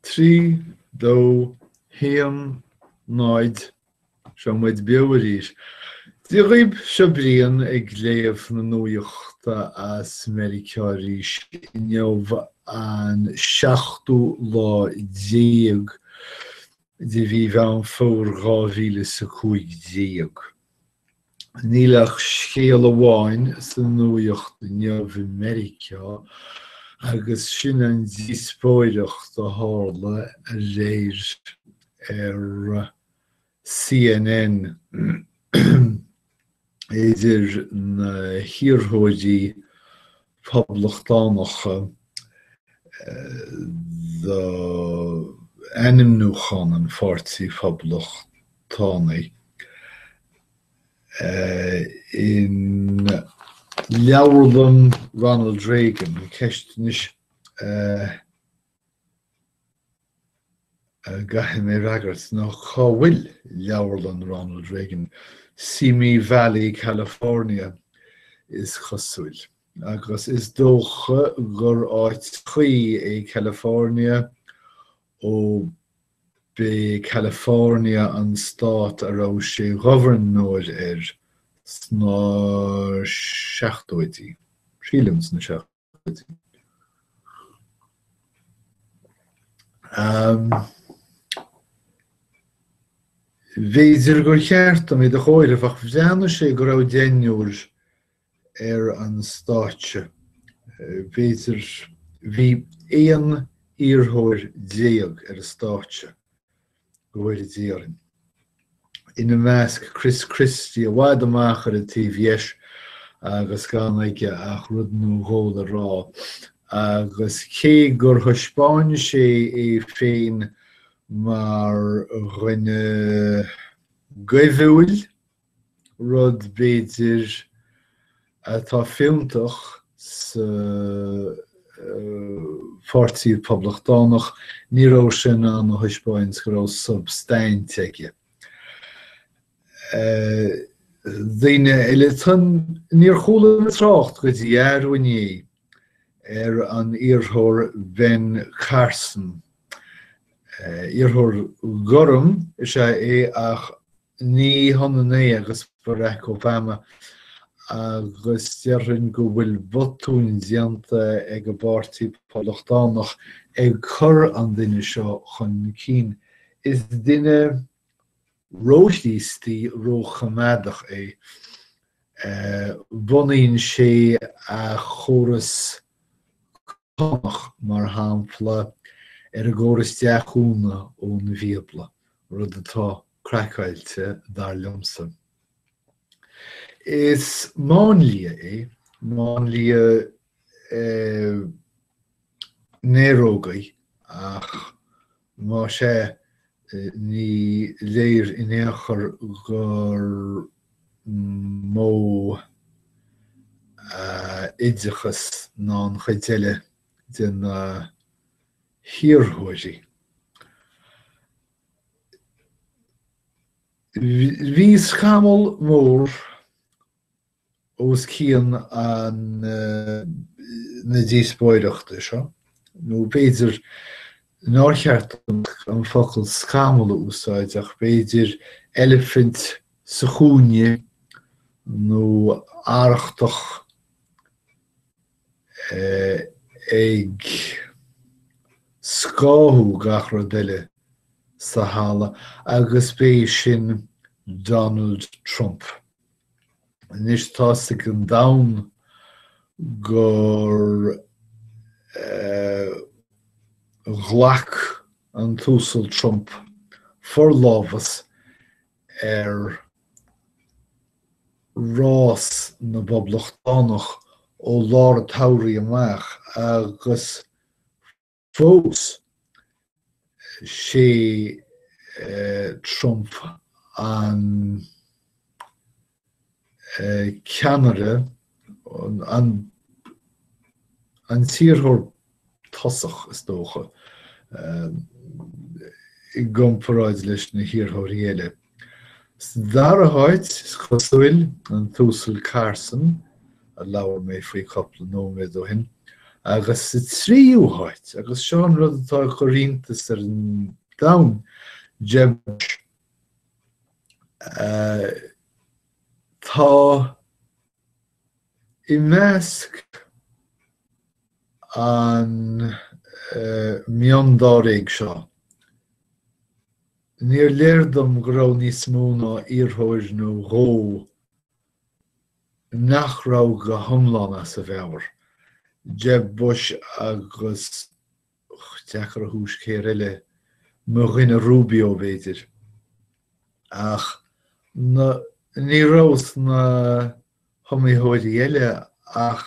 3, 2, 1, 0 Seo muid beo arís! Dia dhaoib, seo Brian ag léamh na nuaiochta as Meiriceá arís. Inniu an seachtú lá déag de mhí Mheán Fómhair dhá mhíle is a cúig déag. Níl ach scéal amháin sa nuaíocht inniu i Meiriceá agus sin an díospóireacht a tharla aréir ar CNN idir na hiarrthóirí, Poblachtánacha d'ainmniúchán an Pháirtí Phoblachtánaigh in Leabharlann Ronald Reagan, Ceist anois, a gcaithfidh mé a fhreagairt ná cá bhfuil Leabharlann Ronald Reagan? Simi Valley, California, is cosúil. Agus is dócha gur áit chuí é California, ó b'é California an stát a raibh sé ina ghobharnóir air sna seachtóidí, sílim, sna seachtóidí. B'fhéidir gur cheart dom iad a chomhaireamh ach bhreathnaigh sé go raibh deichniúr ar an stáitse. B'fhéidir. Bhí aon iarrthóir déag ar an stáitse. go bhfóire Dia orainn. Ina measc Chris Christie, i bhfad amach ar an taobh dheis agus gan aige ach rud nó dhó le rá. Agus cé gur thaispeáin sé é féin mar dhuine goimhiúil, rud b'fhéidir atá fiúntach sa Pháirtí Poblachtánach, ní raibh sé in ann a thaispeáint go raibh substaint aige. Daoine eile, níor chuala mé trácht go dtí arú inné ar an iarrthóir Ben Carson. Iarrthóir gorm is ea é ach Ní hionann é agus Barack Obama agus déarfainn go bhfuil botúin déanta ag an bPáirtí Poblachtánach ag cur an duine seo chun cinn. Is duine róchríostaí, róchoimeádach é. Bunaíonn sé a chóras cánach, mar shampla, ar an gcóras deachúna ón Bhíobla, rud atá craiceáilte, dar liomsa. Is máinlia é, máinlia néaróg é ach Más ea, ní léir in aon chor gur mó a oideachas ná an chuid eile de na hiarrthóirí. Bhí scamall mór os cionn na díospóireachta seo, nó b'fhéidir nár cheart dom an focal scamall a úsáid ach b'fhéidir elephant sa chúinne nó arrachtach ag scáthú gach rud eile sa halla, agus b'é sin Donald Trump. Anois tá a fhios ag an domhan gur ghlac an tUasal Trump forlámhas ar rás na bPoblachtánach ó lár an tsamhraidh amach agus Fós is é Trump, an ceannaire, an t-iarrthóir tosaigh is dócha, i gcomparáid leis na hiarrthóirí eile. Sa dara háit, is cosúil, an tUasal Carson, a labhair mé faoi cupla nóiméad ó shin, agus sa tríú háit, agus seo an rud atá ag cur iontais ar an domhan, Jeb Bush. Tá i measc an miondáréag seo Níor léir dom go raibh níos mó ná iarrthóir nó dhó nach raibh go hiomlán as a mheabhair, Jeb Bush agus deacair a thomhas cé eile, mo dhuine Rubio, b'fhéidir. Ach ní raibh sna hiomaitheoirí eile ach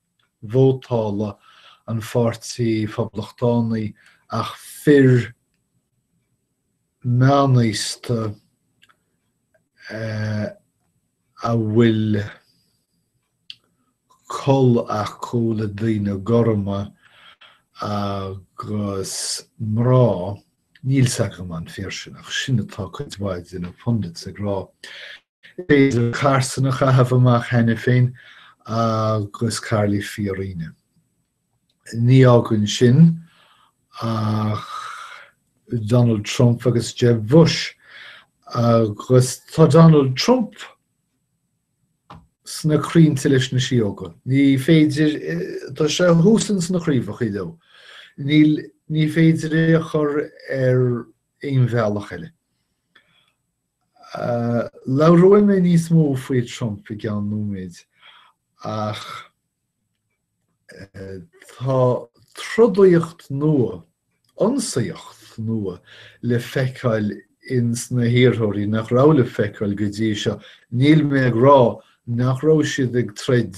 vótála an Pháirtí Phoblachtánaigh ach fir meánaosta a bhfuil col acu le daoine gorma agus mná, níl 's agam an fíor sin ach sin atá cuid mhaith de na pundits ag rá. Is féidir Carson a chaitheamh amach cheana féin agus Carly Fiorina. Ní fhágann sin ach Donald Trump agus Jeb Bush. Agus tá Donald Trump sna crainnte leis na síóga. Ní féidir, tá sé thuas ins na craobhachaí leo. Níl, ní féidir é a chur ar aon bhealach eile. Labhróidh mé níos mó faoi Trump i gceann nóiméid ach tá trodaíocht nua, ionsaíocht nua le feiceáil ins na hiarrthóirí nach raibh le feiceáil go dtí seo. Níl mé ag rá nach raibh siad ag troid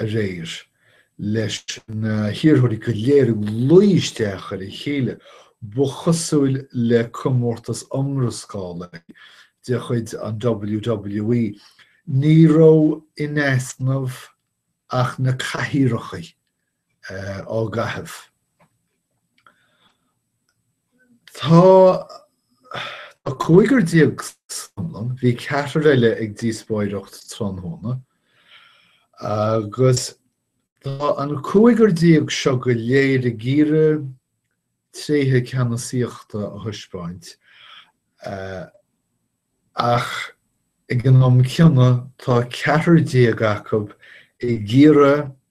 aréir leis na hiarrthóirí go léir ag luí isteach ar a chéile. Ba chosúil le comórtas iomrascála de chuid an WWE. Ní raibh in easnamh ach na cathaoireacha á gcaitheamh. Tá cúigear déag san iomlán, bhí ceathrar eile ag díospóireacht tráthnóna, agus tá an cúigear déag seo go léir ag iarraidh tréithe ceannasaíochta a thaispeáint ach ag an am céanna tá ceathrar déag acu ag iarraidh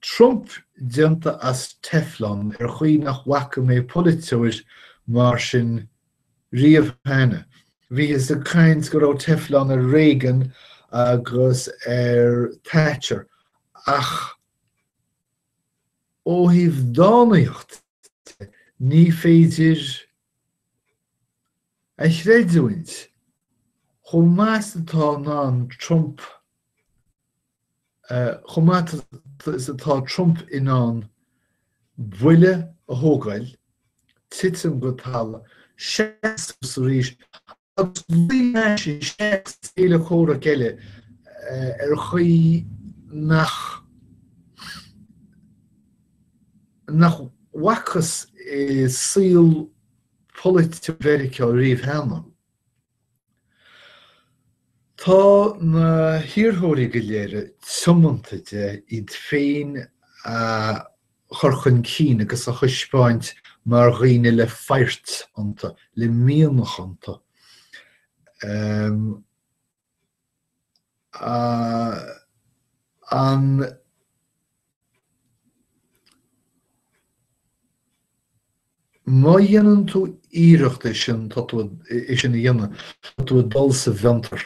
Trump déanta as teflon ar chaoi nach bhfaca mé polaiteoir mar sin riamh cheana. Bhíothas ag caint go raibh teflon ar Reagan agus ar Thatcher ach ó thaobh dánaíocht de ní féidir a chreidiúint, chomh maith is atá in ann Trump, chomh maith is atá Trump in ann buille a thógáil, titim go talamh, seasamh arís agus luigh leis an téacs céile comhraic eile ar chaoi nach nach bhfacthas i saol polaitiúil Mheiriceá riamh cheana. Tá na hiarrthóirí go léir tiomanta de iad féin a chur chun cinn agus a thaispeáint mar dhaoine le faghairt iontu, le mianach iontu, an. Má dhéanann tú iarracht é sin tá tú é sin a dhéanamh, tá tú ag dul sa bhfiontar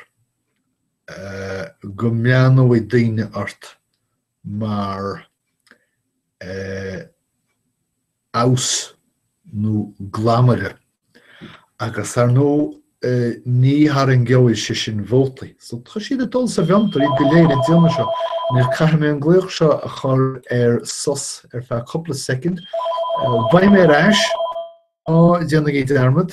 go mbreathnóidh daoine ort mar amhas nó glamaire agus ar ndóigh ní tharraingeoidh sé sin vótaí so tá siad ag dul sa bhfiontar, iad go léir ag déanamh seo. Anois caithfidh mé an glaoch seo a chur ar sos ar feadh cúpla soicind. Beidh mé ar ais ná déanaigí dearmad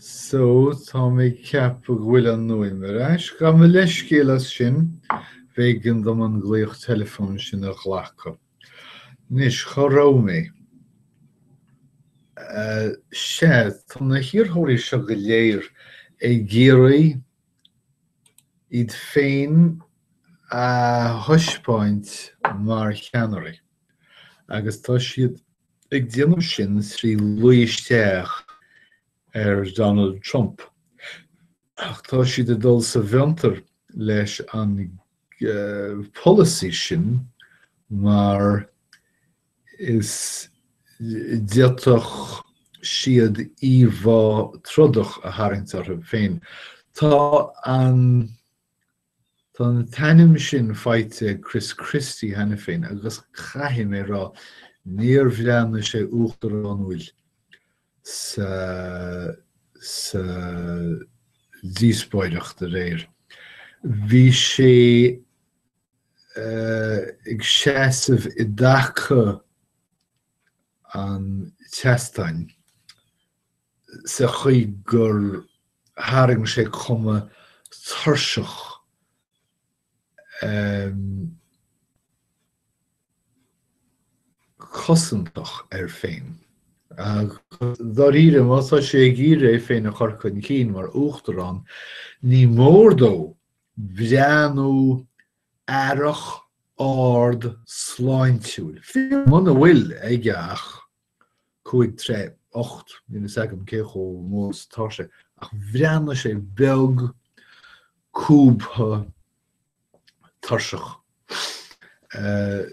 So, tá mé ag ceapadh go bhfuil an fhuaim ar ais. Gabh mo leithscéal as sin, b'éigean dom an glaoch teileafóin sin a ghlacadh. Anois, cá raibh mé? Sea, tá na hiarrthóirí seo go léir ag iarraidh iad féin a thaispeáint mar cheannairí agus tá siad ag déanamh sin trí luí isteach ar Donald Trump ach tá siad ag dul sa bhfiontar leis an polasaí sin mar is d'fhéadfadh siad íomhá trodach a tharraingt orthu féin. Tá an tá an t-ainm sin faighte ag Chris Christie cheana féin agus caithfidh mé a rá, níor bhreathnaigh sé uachtaránúil sa sa díospóireacht aréir. Bhí sé ag seasamh i dtaca an tseastáin sa chaoi gur tharraing sé cuma tuirseach cosantach air féin. Agus dáiríre, má tá sé ag iarraidh é féin a chur chun cinn mar Uachtarán, ní mór dó breathnú aireach, ard, sláintiúil, fiú muna bhfuil aige ach 5 troigh 8 níl is agam cé chomh mór is atá sé ach bhreathnaigh sé beag cúbtha tuirseach. Eh,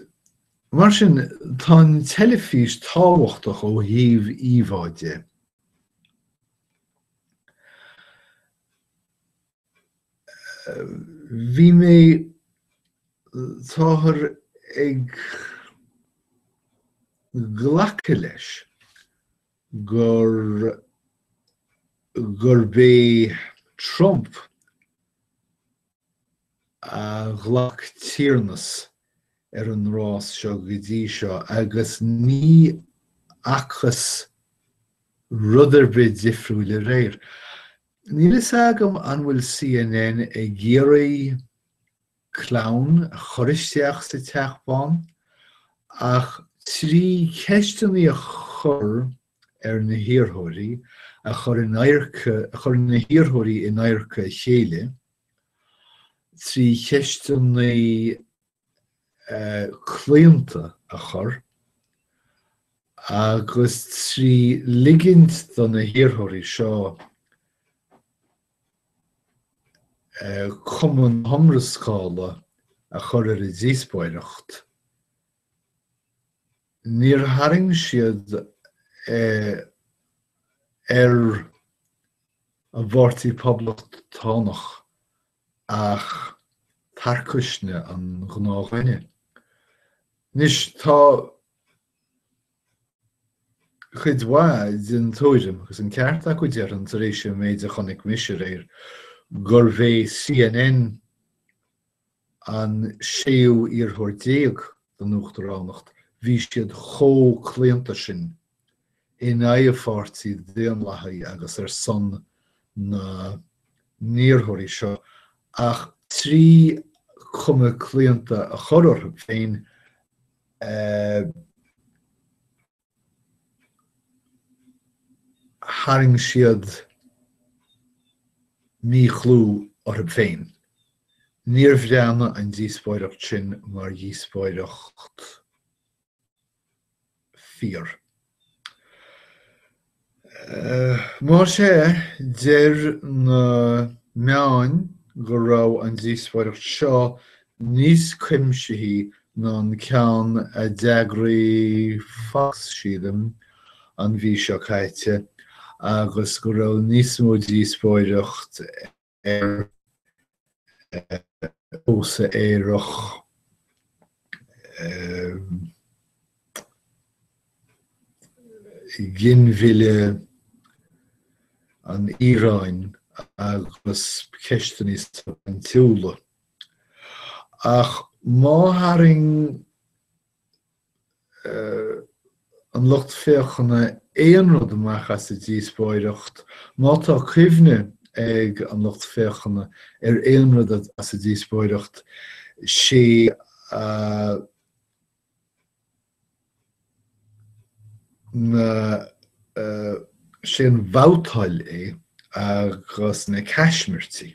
mar sin tá an teilifís tábhachtach ó thaobh íomhá de. Bhí mé, táthar ag glacadh leis gur, gurb é Trump a ghlac tiarnas ar an rás seo go dtí seo agus ní fhacthas rud ar bith difriúil aréir. Níl fhios agam an bhfuil CNN ag iarraidh clown a chur isteach sa Teach Bán ach trí cheisteanna a chur ar na hiarrthóirí a chur in adharca, a chur na hiarrthóirí in adharca a chéile trí cheisteanna claonta a chur, agus trí ligint do na hiarrthóirí seo cuma na hiomrascála a chur ar an díospóireacht, níor tharraing siad ar an bPáirtí Poblachtánach ach tarcaisne an ghnáthdhuine. Anois, tá cuid mhaith den tuairim, agus an ceart acu déarfainn, tar éis an mhéid a chonaic mise aréir, gurbh é CNN an séú iarrthóir déag don uachtaránacht, bhí siad chomh claonta sin in aghaidh an Pháirtí Dhaonlathaigh agus ar son na n-iarrthóirí seo ach trí chuma claonta a chur orthu féin tharraing siad míchlú orthu féin. Níor bhreathnaigh an díospóireacht sin mar dhíospóireacht. fíor. Mar sé, deir na meáin go raibh an díospóireacht seo níos cuimsithe ná an ceann a d'eagraigh Fox, sílim, an mhí seo caite agus go raibh níos mó díospóireacht ar phósadh aerach, ginmhilleadh, an Iaráin agus ceisteanna níos substaintiúla. Ach má tharraing an lucht féachana aon rud amach as an díospóireacht, má tá cuimhne ag an lucht féachana ar aon rud as an díospóireacht, sé na sé an bhabhtáil é agus na caismirtí.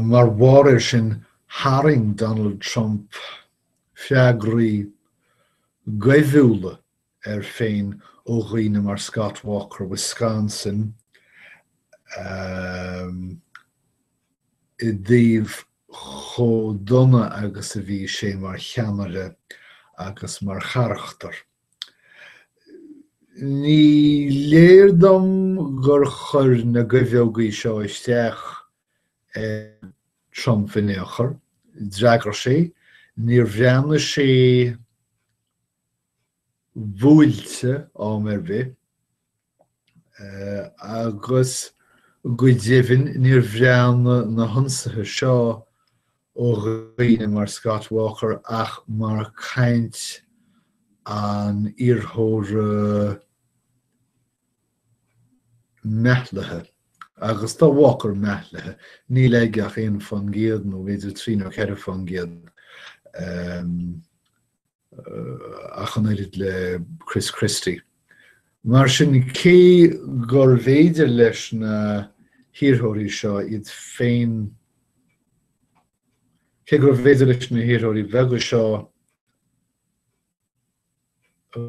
Mar bharr air sin, tharraing Donald Trump freagraí goimhiúla air féin ó dhaoine mar Scott Walker, Wisconsin, i dtaobh chomh dona agus a bhí sé mar cheannaire agus mar charachtar. Ní léir dom gur chuir na goimheogaí seo isteach ar Trump in aon chor. D'fhreagair sé, níor bhreathnaigh sé buailte am ar bith. agus go deimhin níor bhreathnaigh na hionsaithe seo ó dhaoine mar Scott Walker ach mar chaint an iarrthóra meathlaithe. Agus tá Walker meathlaithe, níl aige ach aon faoin gcéad nó b'fhéidir trí nó ceithre faoin gcéad. Um, ach an oiread le Chris Christie. Mar sin, cé gurbh fhéidir leis na hiarrthóirí seo iad féin, cé gurbh fhéidir leis na hiarrthóirí bheaga seo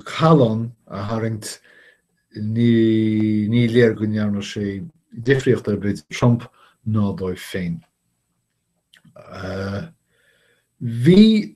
callán a tharraingt, ní léir go ndearna sé difríocht ar bith do Trump ná dóibh féin. Bhí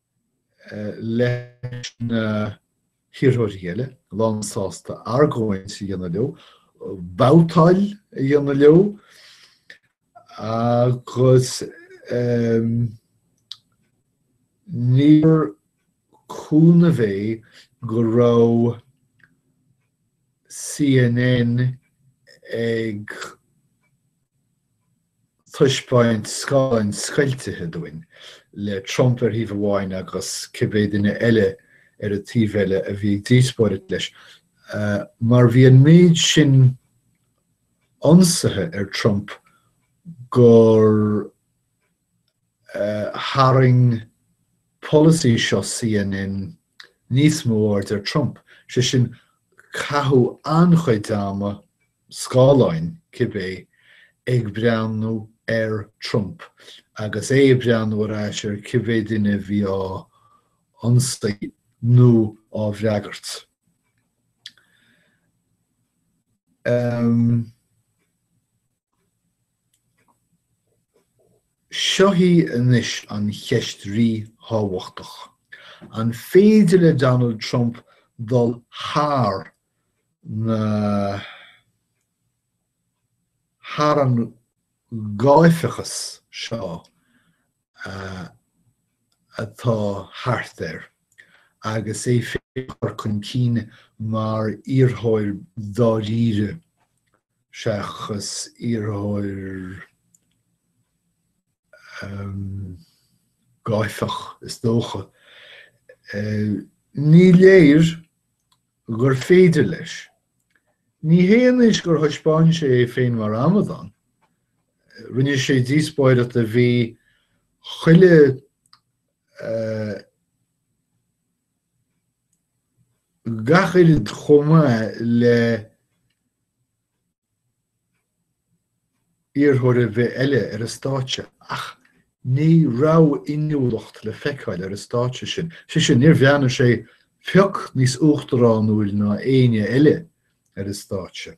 leis na hiarrthóirí eile, lánsásta argóint a dhéanamh leo, babhtáil a dhéanamh leo agus níor cúnamh é a bheith go raibh CNN ag taispeáint scáileáin scoilte dúinn, le Trump ar thaobh amháin agus cibé duine eile ar an taobh eile a bhí ag díospóireacht leis, mar bhí an méid sin ionsaithe ar Trump gur tharraing polasaí seo CNN níos mó aird ar Trump, sé sin, caitheadh an-chuid ama scáileáin, cibé, ag breathnú ar Trump agus é ag breathnú ar ais ar cibé duine a bhí á ionsaí nó á fhreagairt. Seo í anois an cheist ríthábhachtach, an féidir le Donald Trump dul thar ná thar an gáifeachas seo atá thart air agus é féin a chur chun cinn mar iarrthóir dáiríre seachas iarrthóir gáifeach is dócha. Ní léir gur féidir leis. Ní hé anois gur thaispeáin sé é féin mar amadán. Rinne sé díospóireacht a bhí chuile gach pioc chomh maith le. iarrthóir ar bith eile ar an stáitse ach ní raibh inniúlacht le feiceáil ar an stáitse sin. Sé sin, níor bhreathnaigh sé pioc níos uachtaránúil ná éinne eile ar an stáitse.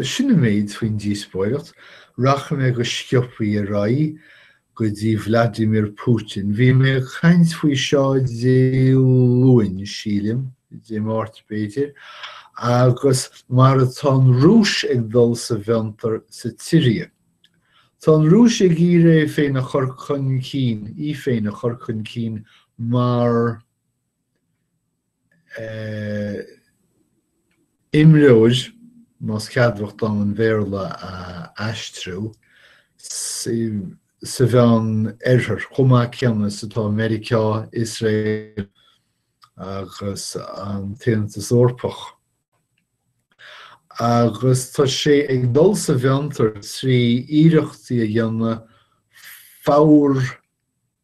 Sin an méid faoin díospóireacht. Rachaidh mé go sciobtha ar aghaidh go dtí Vladimir Putin. Bhí mé ag caint faoi seo Dé Luain, sílim, Dé Máirt b'fhéidir, agus mar atá an Rúis ag dul sa bhfiontar sa tSiria. Tá an Rúis ag iarraidh é féin a chur chun cinn, í féin a chur chun cinn mar. imreoir, más ceadmhach dom an Bhéarla a aistriú, sa Mheán Oirthear, chomh maith céanna is atá Meiriceá, Iosrael agus an tAontas Eorpach. Agus tá sé ag dul sa bhfiontar trí iarrachtaí a dhéanamh fabhar,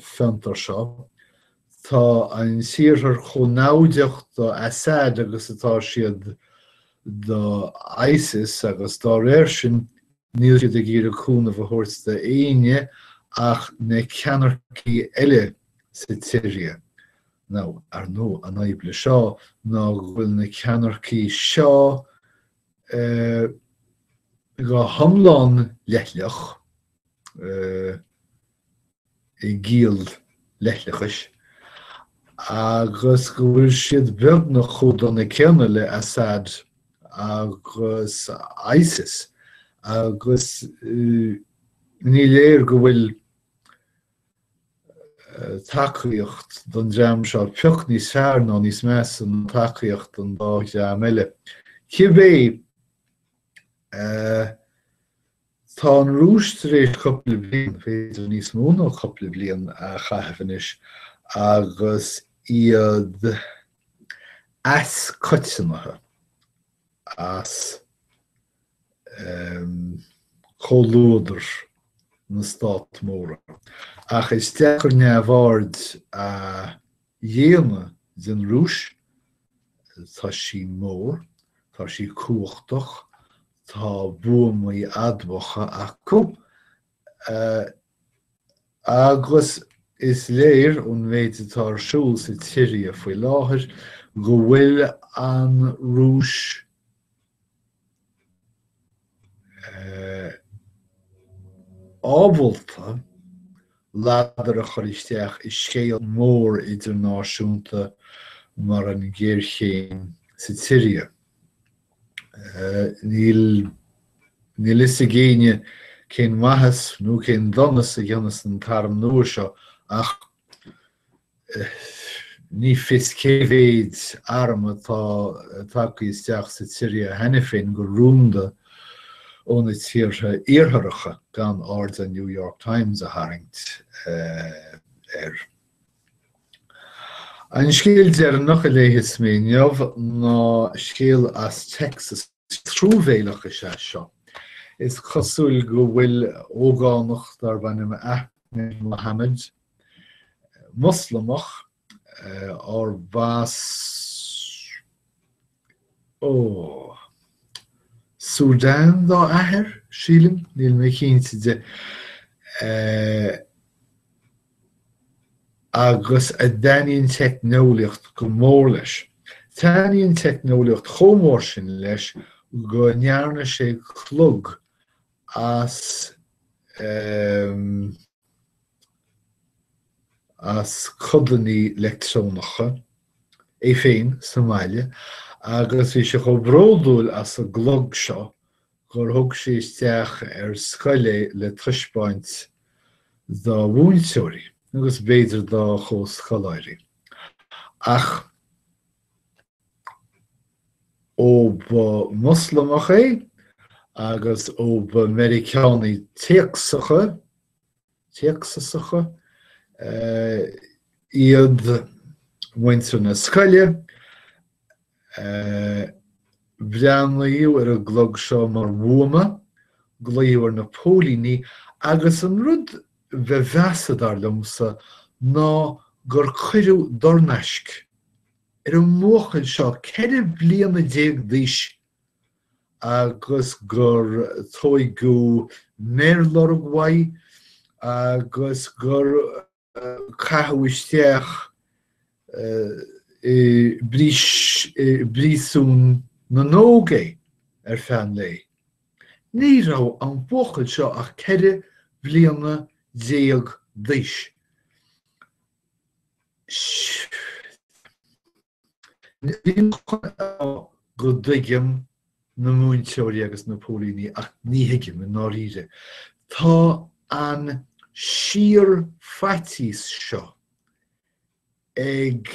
fiontar seo. Tá an tIarthar chomh naimhdeach do Assad agus atá siad do ISIS agus dá réir sin níl siad ag iarraidh cúnamh a thabhairt do éinne ach na ceannaircí eile sa tSiria. Now, ar ndóigh, an fhadhb le seo ná go bhfuil na ceannaircí seo go hiomlán leithleach, i gciall leithleachais, agus go bhfuil siad beagnach chomh dona céanna le Assad agus ISIS, agus ní léir go bhfuil tacaíocht don dream seo pioc níos fearr ná níos measa ná tacaíocht an dá dream eile. Cibé Tá an Rúis tar éis cúpla bliain, b'fhéidir níos mó ná cúpla bliain, a chaitheamh anois agus iad as coitiantacht, as comhluadar na stát móra. Ach is deacair neamhaird a. dhéanamh den Rúis, tá sí mór, tá sí cumhachtach, tá buamaí admhacha acu, agus is léir ón méid atá ar siúl sa tSiria faoi láthair go bhfuil an Rúis, ábalta ladar a chur isteach i scéal mór idirnáisiúnta mar an ghéarchéim sa tSiria. Níl a fhios ag éinne cén mhaitheas nó cén donas a dhéanfas an t-arm nua seo ach Ní fios cé mhéid arm atá tagtha isteach sa tSiria cheana féin go rúnda ó na tíortha iartharacha, gan aird New York Times a tharraingt air. An scéal deireanach a léigheas mé inniu ná scéal as Texas. Truamhéileach is ea seo. Is cosúil go bhfuil ógánach darb ainm Ahmed Mohamed Moslamach arbh as ó Sudan dá athair, sílim, níl mé cinnte de, agus a dtaitníonn teicneolaíocht go mór leis. Taitníonn teicneolaíocht chomh mór sin leis go ndearna sé clog as as codannaí leictreonacha, é féin sa mbaile agus bhí sé chomh bródúil as an gclog seo gur thug sé isteach ar scoil é le taispeáint dá mhúinteoirí agus b'fhéidir dá chomhscoláirí. Ach. ó ba Mhoslamach é agus ó ba Mheiriceánaigh Téacsasacha iad muintir na scoile, breathnaíodh ar an gclog seo mar bhuama, glaodh ar na póilíní agus an rud ba mheasa, dar liomsa, ná gur cuireadh dornaisc ar an mbuachaill seo, ceithre bliana déag d'aois, agus gur tóigeadh méarlorg uaidh agus gur caitheadh isteach i bpríosún na n-óg é ar feadh an lae. Ní raibh an buachaill seo ach ceithre bliana déag d'aois. Ní miste a rá go dtuigim na múinteoirí agus na póilíní ach ní thuigim, i ndáiríre, tá an síor-fhaitíos seo ag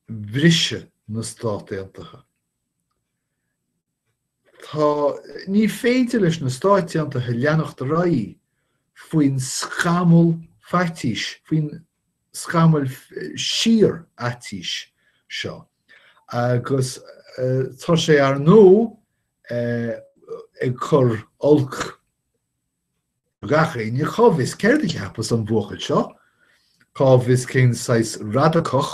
briseadh na Stát Aontaithe. Tá, ní féidir leis na Stáit Aontaithe leanacht ar aghaidh faoin scamall faitís, faoin scamall síor-fhaitís seo, agus tá sé, ar ndóigh, ag cur olc ar gach éinne cá bhfios céard a cheapas an buachaill seo, cá bhfios cén saghas radacach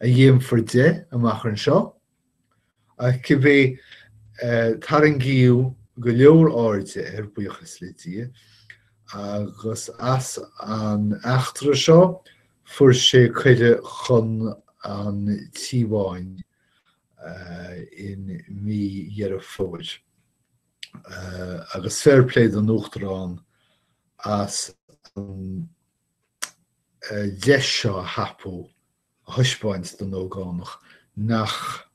a dhéanfar de amach anseo, ach cibé tarraingíodh go leor airde air, buíochas le Dia, agus as an eachtra seo fuair sé cuireadh chun an Tí Bháin in mí Dheireadh Fómhair. agus fair play don Uachtarán as an deis seo a thapú a thaispeáint don ógánach nach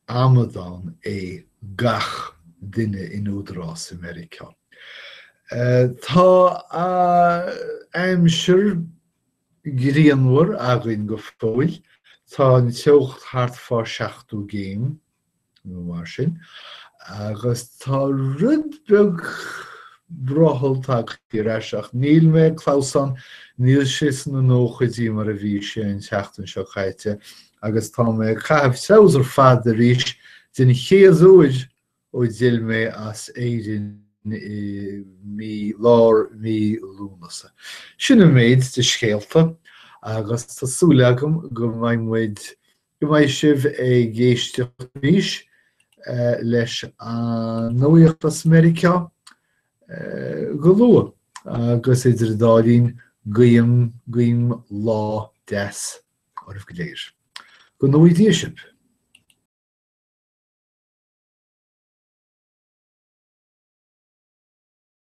amadán é gach duine in údarás i Meiriceá. Tá aimsir ghrianmhar againn go fóill. Tá an teocht thart fá seachtó gcéim nó mar sin, agus tá rud beag brothaill tagtha ar ais ach níl mé ag clamhsán, níl sé sna nóchaidí mar a bhí sé an tseachtain seo caite agus tá mé ag caitheamh treabhsar fada arís den chéad uair ó d'fhill mé ó Éirinn i mí lár mhí Lúnasa. Sin an méid de scéalta agus tá súil agam go mbeidh muid Go mbeidh sibh ag éisteacht arís leis an nuacht as Meiriceá go luath agus idir an dá linn guím, guím lá deas oraibh go léir. Go ngnóthaí Dia sibh.